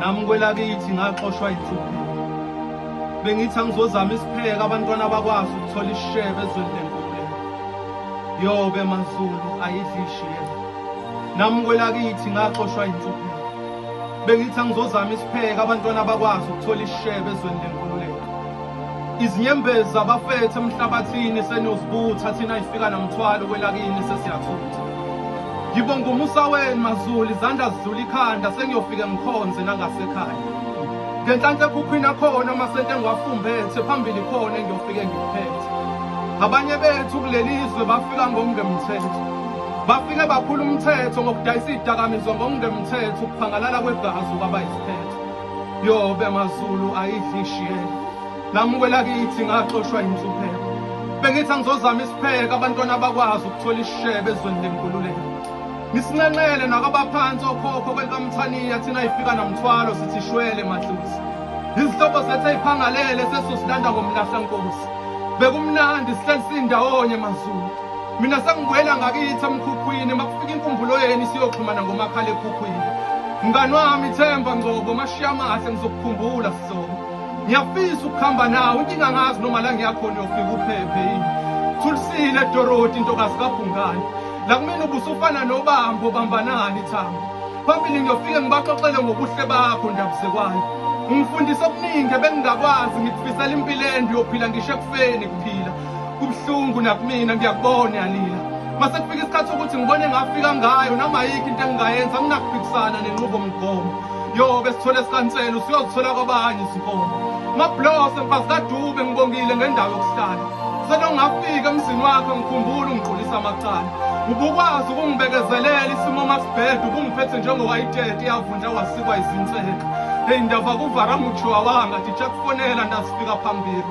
nami kwelakithi ngaxoshwa insuku bengithi angizozama isipheka abantwana bakwazi ukuthola ishebe ezweni lenkule yobe mazulu ayidlishiye nami kwelakithi ngaxoshwa insuku Bengithi angizozama isipheke abantwana bakwazi ukuthola isishebe ezweni lenkululeko. Izinyembezi zabafethu emhlabathini seniyozibutha thina ifika namthwalo kwelakini sesiyathutha. Ngibonga umusa wenu mazulu izandla zidlula ikhanda sengiyofike ngikhonze nangasekhaya. Ngenhlanhla ekhukhwini akhona amasente engiwafumbethe phambili khona engiyofike ngiphethe. Abanye bethu kuleli izwe bafika ngokungemthetho. Bafike baphula umthetho ngokudayisa izidakamizwa ngokungemthetho ukuphangalala kwegazi kwaba isiphetho. Yobe mazulu ayidli ishiyela. Namukela kithi ngaxoshwa inhlupheko. Bengithi angizozama isipheke abantwana bakwazi ukuthola isishebe ezweni lenkululeko. Nisinqenqele nakabaphansi okhokho kwelikamthaniya thina ifika namthwalo sithi shwele madlozi. Izihlobo zethu eyiphangalele sesosilanda ngomlahla nkosi. Bekumnandi sihleli sindawonye mazulu. Mina sengibuyela ngakithi emkhukhwini makufika inkumbulo yenu siyoxhumana ngomakhala ekhukhwini. Mngani wami Themba Ngcobo mashiya amahle ngizokukhumbula sizoba. Ngiyafisa ukuhamba nawe inkinga ngazi noma la ngiyakhona uyofika uphephe yini. Thulisile Dorothy intokazi kaBhungane. La kumina ubusufana nobambo bambanani Thamba. Phambili ngiyofike ngibaxoxele ngobuhle bakho ndabuzekwayo. Ungifundisa okuningi ebengingakwazi ngikufisela impilo ende uyophila ngisho ekufeni kuphila. Kubuhlungu nakumina ngiyakubona yalila. Mase kufika isikhathi ukuthi ngibone ngafika ngayo noma yikho into engingayenza nginakubhikisana nenqubo mgomo. Yo besithole sikansela usiyozithola kwabanye izinkomo. Mablose mfazi kaDube ngibongile ngendawo yokuhlala. Selongafika emzini wakho ngikhumbula ungiqulisa amacala. Ubukwazi ukungibekezelela isimo masibhedwe ubungiphethe njengowayitete yavundla wasikwa izinseka. Hey ndava kuvara mutshiwa wanga ndichakufonela ndasifika phambili.